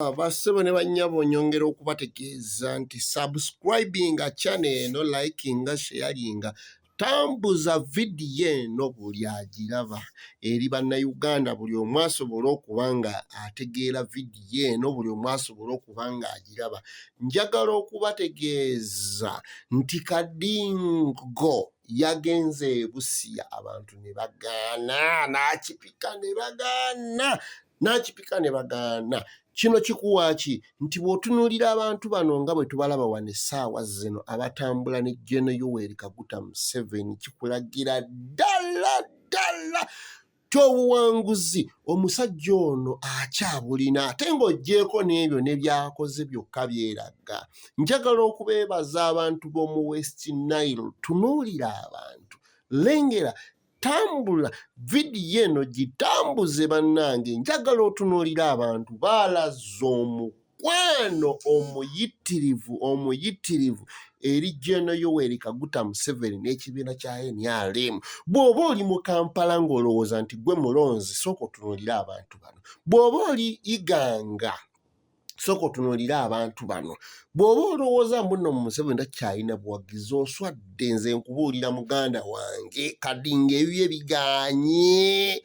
Ah, bassebo ne bannyabo nyongera okubategeeza nti subscribinga channel eno likinga sheyaringa tambuza vidiyo eno buli agiraba eri bannayuganda buli omu asobole okuba nga ategeera vidiyo eno buli omu asobole okuba nga agiraba njagala okubategeeza nti kadingo yagenze ebusiya abantu ne bagaana n'akipika ne bagaana n'akipika ne bagaana kino kikuwaaki nti bw'otunuulira abantu bano nga bwe tubalaba wano essaawa zino abatambula ne jeno yoweri kaguta museveni kikulagira ddala ddala tyobuwanguzi omusajja ono akyabulina ate ng'ogyeko n'ebyo ne byakoze byokka byeraga njagala okubeebaza abantu b'omu west nile tunuulira abantu lengera tambula vidiyo eno gitambuze bannange njagala otunuulira abantu baalaza omukwano omuyitirivu omuyitirivu eri jeno yoweri kaguta museveni n'ekibiina kya nrm bw'oba oli mu kampala ng'olowooza nti gwe mulonzi sooka otunuulira abantu bano bw'oba oli iganga sooka otunuulire abantu bano bw'oba olowooza mbuno mu museveni takyalina buwagizi oswadde nze nkubuulira muganda wange kadi ngaebibye biganye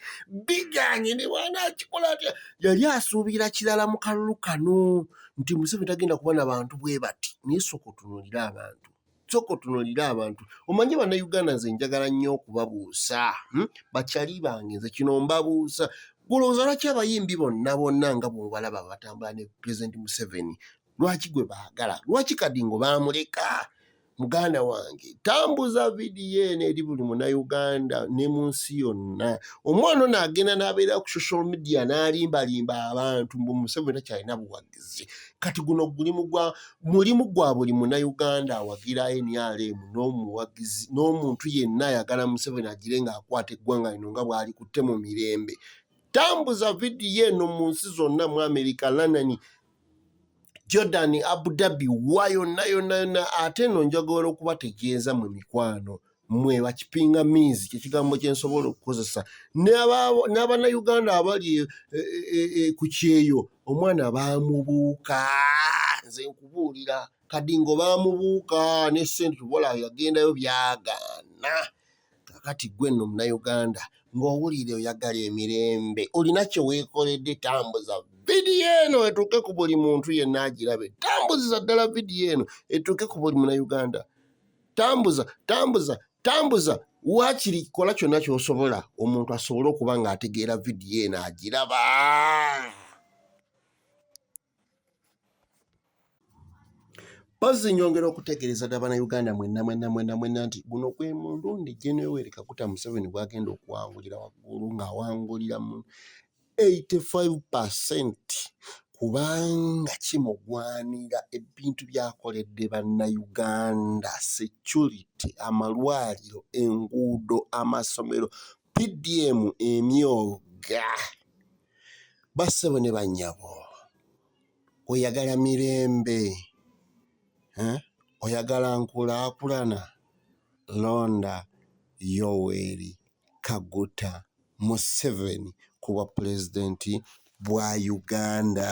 biganye ne bwana akikola atya yali asuubira kirala mu kalulu kano nti museveni tagenda kuba na bantu bwe bati naye sooka otunuulire abantu sooka otunulire abantu omanyi bannayuganda nze njagala nnyo okubabuusa hmm? bakyali bange nze kino mbabuusa gulowooza lwaki abayimbi bonna bonna nga bwobalaba batambula ne pulezidenti museveni lwaki gwe baagala lwaki kadingo baamuleka muganda wange tambuza vidiyo eno eri buli munauganda ne mu nsi yonna omwana ono agenda n'abeera ku social media n'alimbalimba abantu mbu museveni takyalina buwagi buwagizi kati guno gulimu gwa mulimu gwa buli munauganda awagira nrm n'omuwagizi n'omuntu yenna ayagala museveni agire ng'akwata eggwanga lino nga bw'alikutte mu mirembe tambuza vidiyo eno mu nsi zonna mu amerika lanani jordan abu dhabi wa yonna yonna yonna ate eno njagala okubategeeza mu mikwano mwe bakipinga miizi kyekigambo kyensobola okukozesa n'abanauganda abali e, e, e, ku kyeyo omwana bamubuuka nze nkubuulira kadingo bamubuuka ne sente tubola yagendayo byagaana kakati gwe nno munauganda ng'owulire oyagala emirembe olina kye weekoledde tambuza vidiyo eno etuuke ku buli muntu yenna agirabe tambuziza ddala vidiyo eno etuuke ku buli munauganda tambuza tambuza tambuza waakiri kola kyonna ky'osobola omuntu asobole okuba ng'ategeera vidiyo eno agiraba mpozzi nyongera okutegeereza dda bannayuganda mwenna mwenna mwenna mwenna nti guno gwe mulundi gyenewere kaguta museveni gwagenda okuwangulira waggulu ng'awangulira mu 85% kubanga kimugwanira ebintu byakoledde bannayuganda, securite, amalwaliro, enguudo, amasomero, PDM emyooga. Bassebo ne bannyabo oyagala mirembe eh? oyagala nkulaakulana londa yoweri kaguta Museveni ku bwa Pulezidenti bwa Uganda.